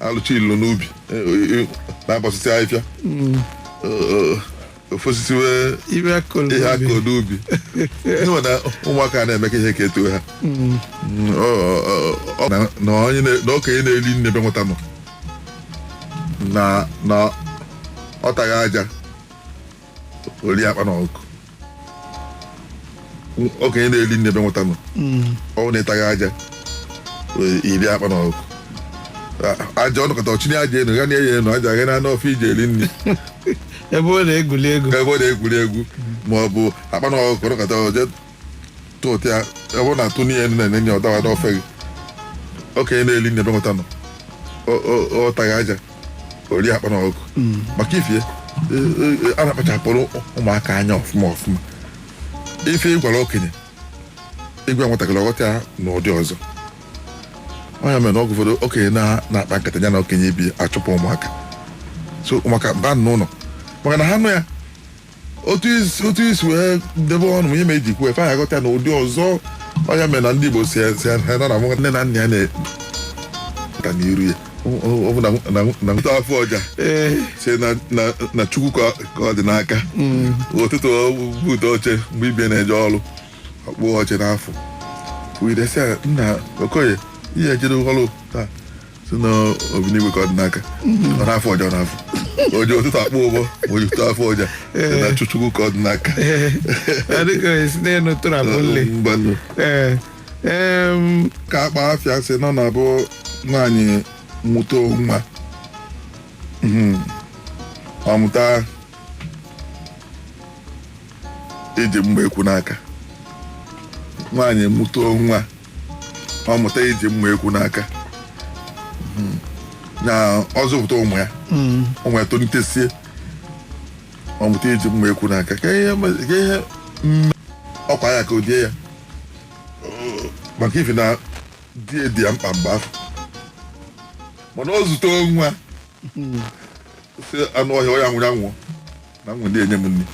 alụcha ilu n'ubi na-agbasịsị ahịfịa ofosisi wee ihe akọ n'ubi ịnwe na ụmụaka na-emeka ihe ka etu ha na okenye na-eri nni ebe nwata nọ na ọ taghị aja o rie akpana ọkụkọ okenye na-eri nni ebe nwata nọ ọ bụ na ị taghị aja wee rie akpana ọkụkọ A- aja ọ nọkata ọ chịnye aja enu ya na enye enu aja ghe na n'ofe i ji eri nri ebe ọ na-egwuli egwu ebe ọ na-egwuri egwu ma ọ bụ akpana ọkụkọ ọ nọkata o je tụtụ ya ebe ọ na-atụni ya enu ọ dawa n'ofe gị okenye na-eli nni ebe nwata nọ ọ taghị aja o rie akpana ọkụkọ maka ifi e, e, e, a na-akpachapụrụ ụmụaka anya ọfụma ọfụma ife ị gwara okenye ị gwa nwatakịrị ọ ghọta ya n'ụdị ọzọ ọ nya mere na oge ụfọdụ okenye na-akpa nkata ya na okenye ibe ya achụpụ ụmụaka sị ụmụaka baa n'ụlọ maka na ha nụ ya otu i si otu i si wee debe ọnụ m ihe ma eji kwuo ife anyị aghọta ya n'ụdị ọzọ ọ nya mere na ndị Igbo sị sị ha na nwa nne na nna ya na-ata n'iru ya ọ bụ na na na nwata afụ ọja sị na na na Chukwu ka ka ọ dị n'aka ụtụtụ bute oche mgbe ibe ya na-eje ọrụ ọ kpụ ọja na-afụ wee de sị ya nna Okoye i jere ọrụ taa sị na Obinigwe ka ọ dị n'aka ọ na-afụ ọja na-afụ o ji ụtụtụ akpọ ụbọ o ji ụtụtụ afụ ọja sị na Chu- Chukwu ka ọ dị n'aka adịka esi n'elu tụrụ abụ nle mgbanụ ee em, ka akpa afịa sị na ọ na-abụ nwaanyị mụta nwa Mhm. ọ mụta iji mma ekwu n'aka nwaanyị mụta nwa ọ mụta iji mma ekwu n'aka Mhm. na ọ zụpụta ụmụ ya ụmụ ya tolitesie ọ mụta iji mma ekwu n'aka ka ihe ma- ka ihe mee ọkwa ya ka ọ dị ya Ọ, maka ifi na di dị ya mkpa mgbe ahụ mana ọ zụta nwa sị anụ ọhịa ọ ya-anwụ ya nwụọ na enwe m ndị enye m nri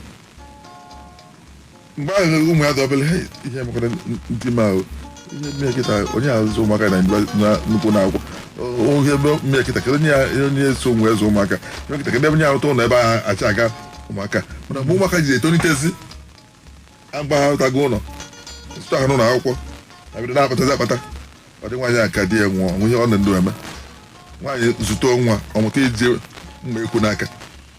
mgbe ahụ na ụmụ ya dị obere "Hey, ihe mekwara di m ahụ ihe mee ya kịta onye azụ ụmụaka na mgbe- na nnukwu na akwụkwọ oge ihe mee ya kịta kedu onye ya- onye eso mụ azụ ụmụaka ihe mee ya kịta kedu ebe onye arụta ụlọ ebe ahụ achị aga ụmụaka mana mgbe ụmụaka ji etolitezi mgbe ha rụtago ụlọ zụta ha n'ụlọ akwụkwọ ha bido na-akpatazi akpata ọ dị nwaanyị a ka di ya nwụọ o nwe ihe ọ nọ ndụ eme nwaanyị zụta nwa ọ mụta iji mma ekwu n'aka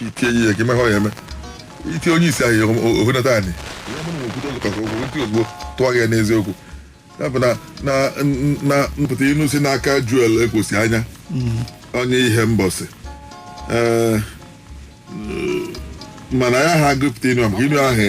itinye ihe ka imeghe ya eme itinye onye isi anyị ohunata anyị ya bụ na okwute ụlọ kasị okwu ntị ozugbo tụọ gị ya n'eziokwu ya bụ na na na mpụta inu si n'aka joel ekwosianya onye ihembosi ee mana ya ha gụpụta inu a maka inu ahụ